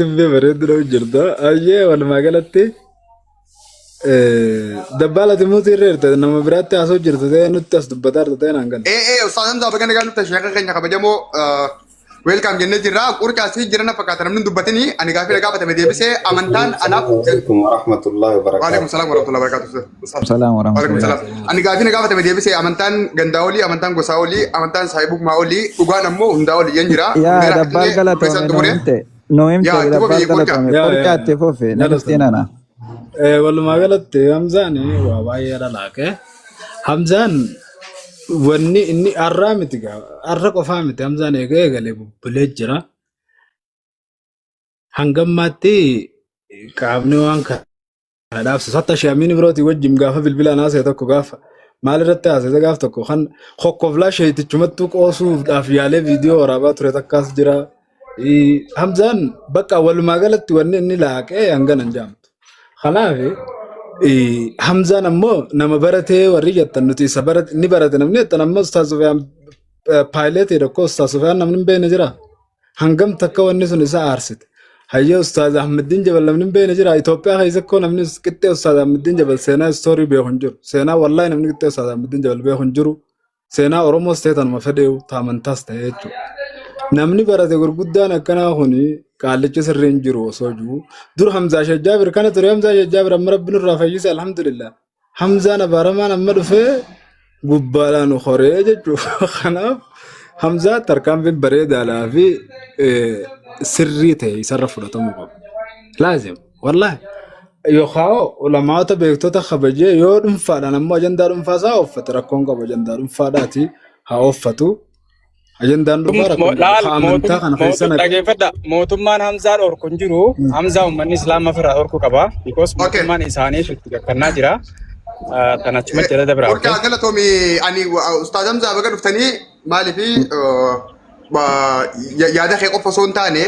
Dubbee bareedu dha jirta. Ayyee walumaa galatti dabbaala timuutii irra jirta nama biraatti haasoo jirta ta'ee nutti as dubbataa jirta ta'ee naan galle. Ee ee Ustaaz Hamzaa baga nagaan dhufte sheekha keenya kabajamoo weelkaam jennee jirra. Qurcaas fi jirana fakkaata namni hin dubbatini ani gaafii na gaafatame deebisee amantaan anaaf. Assalamualaikum warahmatullahi Waalaikum wabarakatuh. salaam warahmatullahi wabarakatuh. Salaam Waalaikum salam. warahmatullahi Ani gaafii na gaafatame deebisee amantaan gandaa olii, amantaan gosaa olii, amantaan saahibummaa olii, dhugaan ammoo hundaa olii yan jira. Yaa Hundeera dabbaal Finfinnee galatoomi Profeesar nuu Xumuree. himte. Nuu himte Yaa itti dabbaal fufii qoricha. galatoomi. yaa Qoricha yaa itti fufi na galatoom dhiftiin ana. Eh, walumaa galatti Hamzaan waa baay'ee dhalaaqe. Hamzaan wanni inni har'aa miti gaa har'a qofaa miti Hamzaan eegee eegalee bubbulee jira. Hangammaatti qaamni waan kana Kana dhaabsisa. Hatta Shee Amiin Ibrooti wajjin gaafa bilbilaan haasa'e tokko gaafa maal irratti haasa'e gaaf tokko kan kokkoflaa sheetichumattuu qoosuudhaaf yaalee viidiyoo waraabaa ture takkaas jira. Ii, Hamzaan bakka walumaa galatti wanni inni laaqee hangana hin jaamtu. Kanaaf ii, Hamzaan ammoo nama baratee warri jettan nuti isa barate ni barate namni jettan ammoo Ustaaz Sufiyaan paayileetiidha koo Ustaaz Sufiyaan namni hin beekne jira. hangam takka wanni sun isa aarsite hayyee ustaaz ahmeddiin jabal namni hin beekne jira itoophiyaa keessa koo namni qixxee ustaaz ahmeddiin jabal seenaa istoorii beeku hin jiru seenaa wallaahi namni qixxee ustaaz ahmeddiin jabal beeku hin jiru seenaa oromoos ta'e tanuma fedheewu taamantaas ta'e jechuudha namni barate gurguddaan akkanaa kuni qaallichi sirrii hin jiru osoo jiru dur hamzaa shajjaabir kana ture hamzaa shajjaabir amma rabbi nurraa fayyise alhamdulillah Hamzaan abaaramaan amma dhufee gubbaadhaan nu koree jechuudha. Kanaaf Hamzaa tarkaanfiin bareedaadhaa fi eh, sirrii ta'e isarra fudhatamuu qaba. Laazim, wallaahi. Yookaan ulamaata beektota kabajee yoo dhuunfaadhaan ammoo ajandaa dhuunfaa isaa ooffate rakkoon qabu ajandaa dhuunfaadhaati haa ooffatu. Ajandaan Kun dhugaa mo- rakkoon laal lafa amantaa mootum- kana keessa mootum- naqee dhaggeeffadha mootummaan Hamzaa dhorku hin jiru Hamzaa uummanni Islaamaa ofirraa dhorku qaba because Okay. mootummaan isaanii itti gakkannaa jira Ah, tan achuma jala dabra okay Warqaa galatoomi ani ustaaz Hamzaa baga dhuftanii maaliif yaada kee qofa osoo hin taane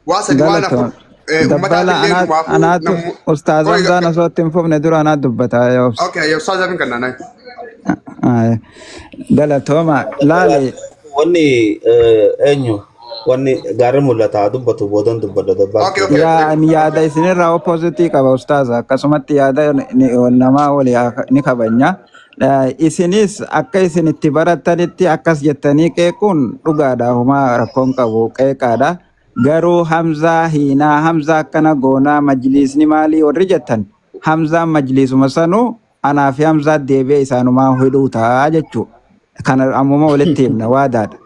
waa sadi waan afur Galatoomi. Eh, Dabbala Ummataaf illee anaa dhumaafuu anaatu nammu... ustaaz Qoy, Hamzaan osoo itti hin fufne dura anaa dubbata yaa obsa. okay, yaa Ustaaz Amin kan naanaa. Aye. Galatooma laale Wanni eh, eenyu wanni gaarri mul'ata haa dubbatu boodan dubbadha dabbaan Okay, okay, yaa thank ani you. yaada isinirraa oppositii qaba ustaaz akkasumatti yaada ni- namaa wali haa- ni kabanya. Eh, Isinis akka isin itti barattanitti akkas jettanii qeequun dhugaadha humaa rakkoon qabu qeeqaadha. Garuu hamzaa hiinaa hamzaa akkana goonaa majliisni maalii warri jettan hamzaan majliisuma sanuu anaa fi hamzaa deebi'ee isaanumaa hidhuu ta'a jechuu kana ammuma walitti himna waadaadha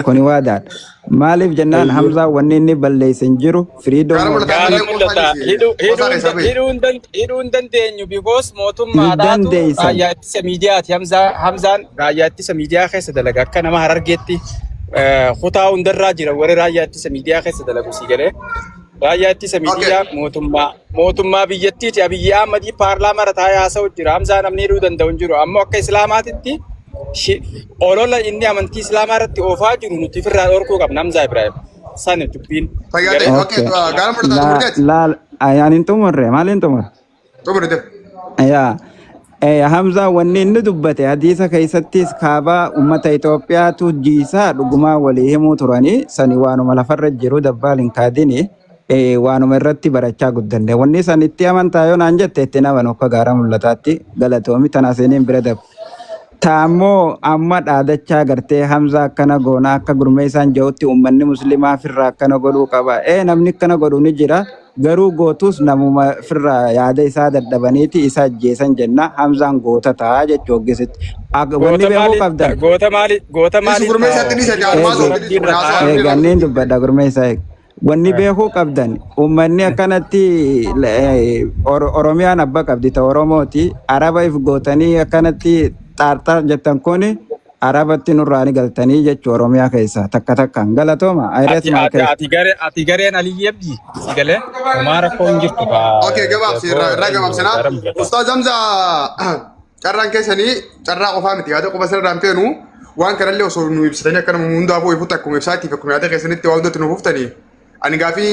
kuni waadaadha maaliif jennaan Eeyyee. hamzaan wanni inni balleesse hin jiru firiidoo Gaara mul'ataa Gaara malee mul'ata. qofa dhiisi. Hidhuu hidhuu Qofa hin keessa da- bee. hidhuu hin dan- hidhuu hin dandeenyu because hin mootummaadhaatu dandeessan raayyaa ittisa miidiyaati Hamzaa- Hamzaan Raayyaa ittisa miidiyaa keessa dalaga akka nama harargeetti eh, kutaa hundarraa jira warri raayyaa ittisa miidiyaa keessa dalagu sii galee. Raayyaa ittisa Okay. miidiyaa mootummaa mootummaa biyyattiiti Abiyyi Ahmadii paarlaamaa irra taa'ee haasa'u jira. Hamzaa namni hidhuu danda'u hin jiru. Ammoo akka Islaamaatitti shi- olola inni amantii Islaamaa irratti oofaa jiru nuti ofirraa dhorkuu qabna Hamzaa Ibraahim. Sani dubbiin. Fayyaa ta'e. Galee? Okay. Okay. Gaara mudhataa Laa xumurteeti. laa ayaan hin xumurre maal hin xumurre? Xumuri def. yaa eh, Hamzaa wanni inni dubbate hadiisa keessattis kaabaa ummata Itoophiyaatu jiisaa dhugumaa walii himuu turanii sani waanuma lafarra jiru dabbaal hin kaadini eh, waanuma irratti barachaa guddanne wanni san itti amantaa yoo naan jette itti naman akka gaara mul'ataatti galatoomi tana seeniin bira dabu. Taammoo amma dhaadachaa gartee Hamza akkana goona akka gurmeessaan ja'utti uummanni muslimaa firraa akkana godhuu qaba. Ee namni akkana godhu ni jira. Garuu gootuus namuma firra yaada isaa dadhabaniiti isa ajjeesan jenna. Hamzaan goota ta'a jechu hoggisitti. Ak- Wanni Goota beekuu maali? qabdan. Goota maali? Goota Dhiisu maali? gurmeessa itti dhiisa Eegu, jaalmaa soofti dhiisu kun haasaa eegu, hafee anniin dubbadha gurmeessa eegu. Wanni beekuu qabdan uummanni akkanatti eh, Or- Oromiyaan abba qabdi ta Oromooti. Araba if gootanii akkanatti xaarxaar jettan kuni arabatti nurraa ni galtanii jechu oromiyaa keessaa takka takkaan galatooma I rate Ati my ati case. ati garee ati gareen Aliyyii Abdii si galee homaa rakkoo hin jirtu kaa Okay, gabaabsi irraa irraa eenyu gabaabsinaa. gara mul'ata. Ustaaz Hamza carraan keessanii carraa qofaa miti yaada qofa sirraan feenu waan kanallee osoo nu ibsitanii akka nama hundaafuu ifutti akkuma ibsaatiif akkuma yaada keessanitti waan hundatti nu fuftanii ani gaafii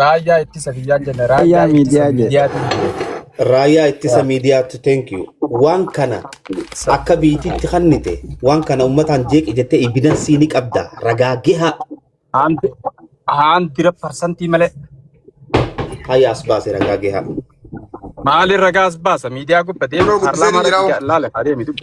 Raayyaa ittisa biyyaa jenna. Raayyaa Raayyaa ittisa miidiyaa jedhe. miidiyaatiin jira. Raayyaa ittisa miidiyaatti thank you. Waan kana akka biitiitti kannite waan kana ummataan jeeqi jettee ibidansii ni qabda ragaa gahaa Haanti haantira parsantii malee hayya as baase ragaa gahaa. maali ragaas baasa miidiyaa gubba deema Kunoo guddisee paarlaamaa ni irratti jira. laala adeemi dubbi.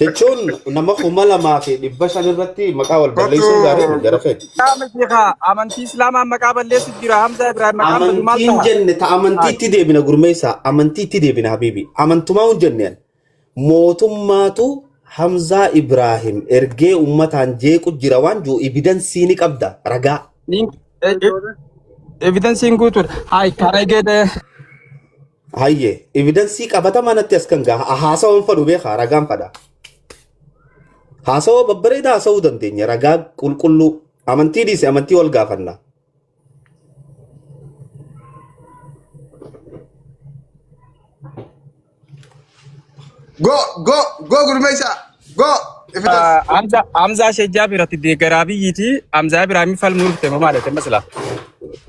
Jechuun nama kuma lamaa fi dhibba shan irratti maqaa wal balleessuun Kottu gaarii miti gara kee. yaa miti kaa amantii islaamaan maqaa balleessu jira Hamzaa Ibrahim maqaan badu maal Amantiin taha? jenne ta Haay. amantiitti deebina gurmeessaa amantiitti deebina habiibi amantumaa hin jenne ani. mootummaatu Hamzaa Ibraahim ergee ummataan jeequ jira waan jiru ibidansii ni qabda ragaa. Link- eh, eh, Evidensiin guutuudha. Haay, kan eegee Hayyee evidansii qabatamaa natti as kan gaha haasawan fadhu beekaa ragaan fadha. Haasawa babbareedaa haasawuu dandeenya ragaa qulqulluu amantii dhiise amantii wal gaafanna. Go go go gurmeessaa. Go! If it is. Hamza Hamza Shejjaa biratti deeggaraa biyyiiti. Hamza Ibrahim falmuu dhufte moo maal jette masala?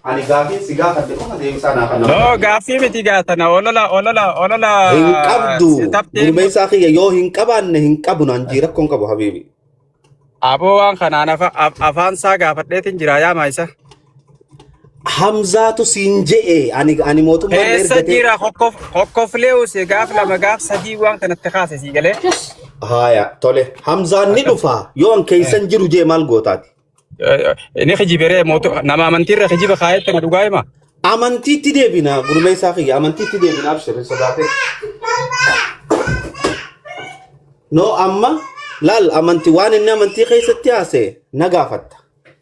Ani gaafii si gaafadhe qofa deebisaa naa kan nama No gaafadhe. gaaffii miti gaatana olola olola olola Hin qabdu. si taftee Gurmeessaa kiyya yoo hin qabaanne hin qabu naan jii rakkoon qabu habiibi. aboo waan kanaan afa- af- afaan isaa gaafadheetiin jira yaa maayisa. Hamzaatu siin je'e ani ani mootummaan na Eessa ergatee. jira kokkof kokkoflee usee gaaf lama gaaf sadii waan kanatti kaase sii galee. Haaya tole Hamzaan ni dhufa yoo an keessan jiru jee maal gootaati. Inni kijiberee mootu nama amantiirra kijiba kaayetti na dhugaa hima. Amantiitti deebina gurmeessaa kiyya amantiitti deebina abshirri sodaatee. No amma laal amanti waan inni amantii keessatti haase na gaafatta.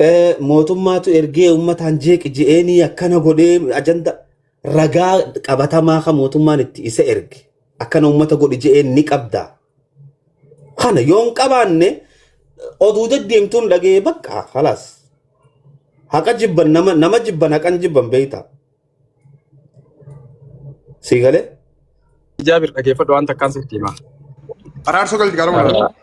Eh, mootummaatu ergee ummataan jeeqi je'eenii akkana godhee ajanda ragaa qabatamaa kan mootummaan itti isa erge akkana ummata godhi je'een ni qabda kana yoo hin qabaanne oduu deddeemtuun dhaga'ee bakka halaas haqa jibban nama nama jibban haqan jibban beeyta Sii galee? Jaabir dhageeffadhu waan takkaan sitti hima. Araarsoo galti gaara walaal. Ala-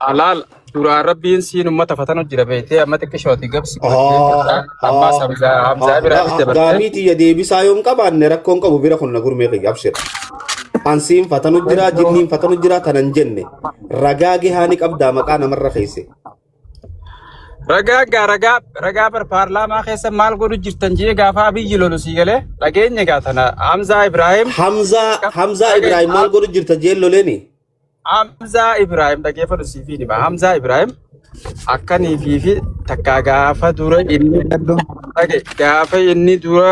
Alaal duraan rabbiin siin ummata fatanu jira beektee amma xiqqishooti gabsi godhattee Haa, jirta. Ammaas haa, Hamzaa haa. Hamzaa Ga- biraanis ga- dabartee. Gaafii tiyya deebisaa yoon qabaanne rakkoon qabu bira kun na gurmee kiyya abshir. Ansiin fatanu jira, jinniin fatanu jira tanan jenne. Ragaa gahaa ni qabdaa maqaa namarra keesse. Ragaa gaa ragaa ragaa bar paarlaamaa keessa maal godhu jirtan jee gaafa abiyyi lolu sii galee dhageenye gaa tana Hamzaa Ibraahim Hamzaa Hamzaa dhage- Ibrahim maal godhu jirta jeen loleeni? Hamzaa Ibraahim dhageeffadhu sii fi nima Hamzaa Ibraahim akkanii fi fi takkaa gaafa dura inni dhage gaafa inni dura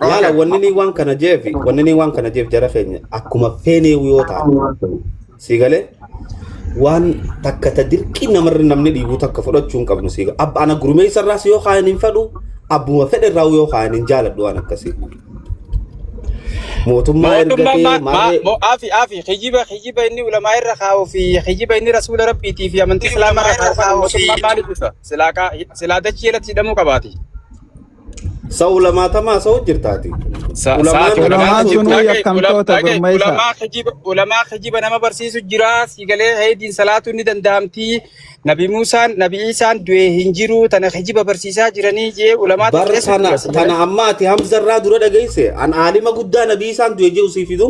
Laala Okay. wanni ni waan kana jeefi wanni ni waan kana jeef jara keenya akkuma feenee yoo taate sii galee waan takka ta dirqii namarra namni dhiibuu takka fudhachuu hin qabnu sii abba ana gurmeessa irraas yoo kaayan hin fedhu abbuma fedhe irraa yoo kaayan hin jaaladhu waan akkasii mootummaa Mootummaa ergatee ma- ma- maarree mo- afi afi kijiba kijiba inni ulamaa irra kaa'uu fi kijiba inni rasuula rabbiitii fi amantii islaamaa irra kaa'uu fi mootummaa maaliif dhufa? Silaa kaa- silaa dachii irratti hidhamuu qabaati. Sa ulamaatamaa sa hojjirtaati. Sa Ulamaan sa'aati kana Ulamaan gaafatu sunuu dhagaye yakkamtoota dhagaye gurmeessa. ulamaa kijiba ulamaa kijiba nama barsiisu jira siigalee heediin salaatu ni danda'amti nabi Muusaan nabi Iisaan du'ee hin jiru tana kijiba barsiisaa jiranii jee ulamaa Bar xiqqeessu tana jira siigalee tana amma ati Hamzarraa dura dhageesse an aalima guddaa nabii isaan du'e jiru sii fidu.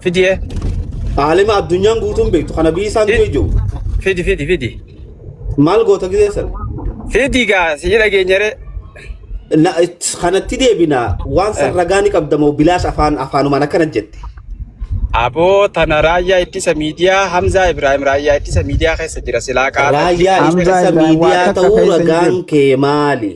Fidiyee. Aalima addunyaan guutuun beektu kana biyyi isaan du'e jiru. Fidi fidi fidi. Maal goota gisee sana? Fidi gaa si jira geenyaree. Na- it- Kanatti deebina waan san ragaa ni qabda moo bilaash afaan afaanumaan akkana jette. Aboo tana raayyaa ittisa miidiyaa Hamzaa Ibrahim raayyaa ittisa miidiyaa keessa jira silaa qaala. Raayyaa Hamzaa ittisa Ibrahim miidiyaa waan takka ta'uu keessa hin ragaan jiru. kee maali?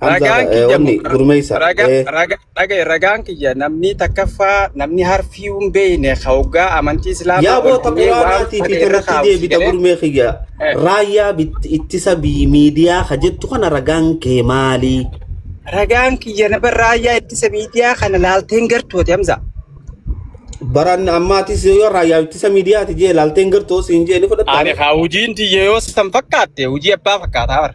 Ragaan kiyya wanni gurmeessa. Dhagaye ragaan kiyya namni takkaffaa namni harfii hin beekne hoggaa amantii islaamaa Yaa boota quraanaatii fi irratti deebita gurmee kiyya. Raayyaa ittisa miidiyaa ka jettu kana ragaan kee maali? Ragaan kiyya nama raayyaa ittisa miidiyaa kana laalteen gartooti Hamza. Baran ammaatis yoo raayyaa ittisa miidiyaati jee laalteen gartoo siin jee ni fudhatta. Ani haa hojiin tiyya yoo san fakkaatte hojii abbaa fakkaataa bara.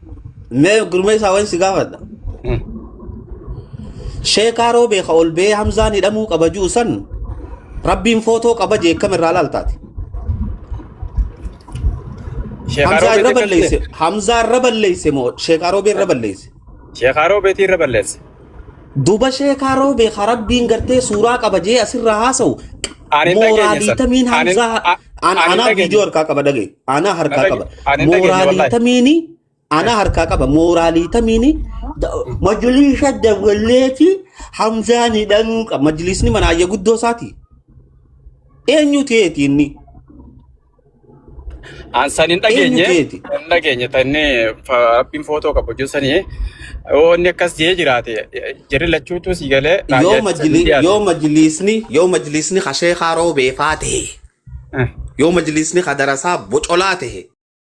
Mee gurmeessaa waan si gaafadha. Sheekaa roobee ka ol ba'ee Hamzaan hidhamuu qaba jiru san rabbiin footoo qaba jee kam irraa laaltaati. Sheekaa Hamzaa irra roobeetti balleesse. akkasii. Hamzaa irra balleesse moo sheekaa roobee irra balleesse. Sheekaa roobeetti irra balleesse. duba sheekaa roobee ka rabbiin gartee suuraa qaba jee asirraa haasa'u Ani hin dhageenye mooraalii san. tamiin Ani- hamzaa a- an- ani hin anaa dhageenye. viidiyoo harkaa qaba dhagee anaa harkaa dhage- qaba ani hin dhageenye mooraalii wallahi. tamiini anaa harkaa qaba mooraalii tamiini da- majliisa dawwallee fi hamzaan hidhamuu qaba majliisni mana ayya guddoo isaati eenyuti eeti inni An san hin Eenyu dhageenye, keeti? hin dhageenye tanne rabbiin footoo qabu jeessanii yoo inni akkas jee jiraate jirri lachuutu si galee Yoo raayyaa ittisa majli biyyaa yoo majlisni yoo majlisni ka sheekaa roobee faa ta'e ta'e. yoo majlisni ka darasaa bocolaa ta'e